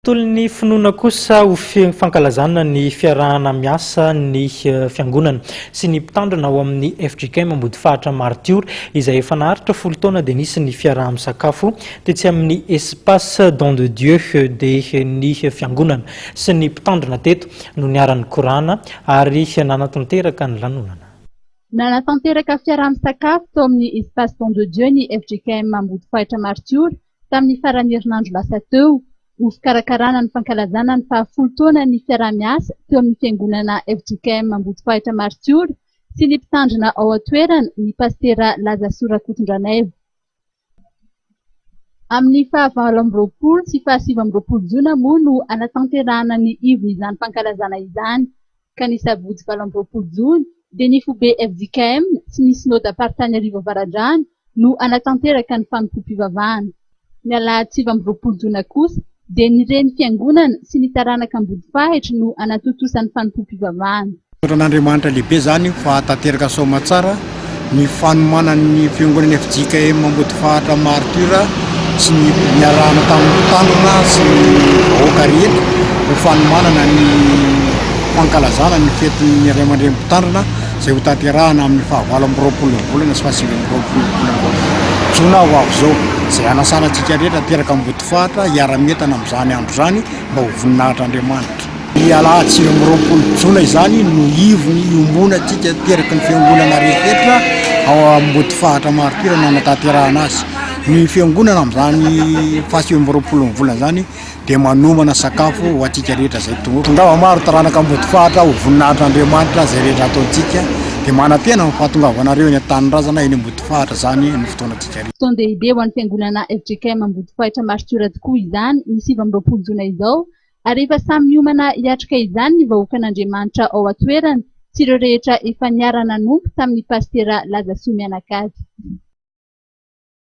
Tolon'ny finoana kosa ho fankalazana ny fiarahana miasa ny fiangonana sy ny mpitandrina ao amin'ny FJKM Ambodifahatra Martiora izay efa naharitra folo taona dia nisy ny fiaraha-misakafo tetsy amin'ny Espace Don de Dieu dia ny fiangonana sy ny mpitandrina teto no niharan'ny korana ary nanatanteraka ny lanonana. Nanatanteraka fiaraha-misakafo tao amin'ny Espace Don de Dieu ny FJKM Ambodifahitra Martiora Tamin'ny faran'ny herinandro lasa teo, ho fikarakarana ny fankalazana ny fahafolo taonan'ny fiaraha-miasa teo amin'ny Fiangonana fjkm Ambodifahitra Maritiora sy ny Mpitandrina ao an-toerana ny Pasitera Lazasoa Rakotondranaivy. Amin'ny fahavalo amby roapolo sy fahasivy amby roapolo jona moa no hanatanterahana ny ivon'izany fankalazana izany. ka ny sabotsy valo amby roapolo jona dia ny foibe fjkm sy ny synodam-paritany Iarivo Avaradrano no hanatanteraka ny fanompoam-pivavahana. Ny alahady sivy amby roapolo jona kosa dia ny reny fiangonana sy ny taranaka Ambodifahitra no hanatontosa ny fanompoam-pivavahana. Tondran'Andriamanitra lehibe izany fahatanteraka soamantsara ny fanomanan'ny Fiangonana fjkm Ambodifahatra Martyrs sy ny niarahana tamin'ny tanana sy ny vahoaka rehetra ho fanomanana ny fankalazana ny fetin'ny Ray aman-dReny Mpitandrina izay ho tanterahana amin'ny faha valo amby roapolo volana sy faha sivy amby roapolo jona ho avy izao, izay hanasana antsika rehetra ateraka Ambodifahatra hiara-mientana amin'izany andro izany mba ho voninahitr'Andriamanitra. Ny alahady sivy amby roapolo jona izany no ivon'ny iombonantsika teraky ny Fiangonana rehetra ao Ambodifahatra Martyrs no hanatanterahana azy. Ny Fiangonana amin'izany fahasivy amby roapolon'ny volana izany dia manomana sakafo ho antsika rehetra izay tonga. Tongava maro taranaka Ambodifahatra ho voninahitr'Andriamanitra izay rehetra ataontsika dia manantena ny fahatongavanareo eny an-tanindrazana eny Ambodifahatra izany ny fotoanantsika rehetra. Fotoan-dehibe ho an'ny Fiangonana fjkm Ambodifahitra Martyrs tokoa izany ny sivy amby roapolo jona izao Ary efa samy miomana hiatrika izany ny vahoakan'Andriamanitra ao an-toerana sy ireo rehetra efa niara-nanompo tamin'ny pasitera laza soa mianakavy.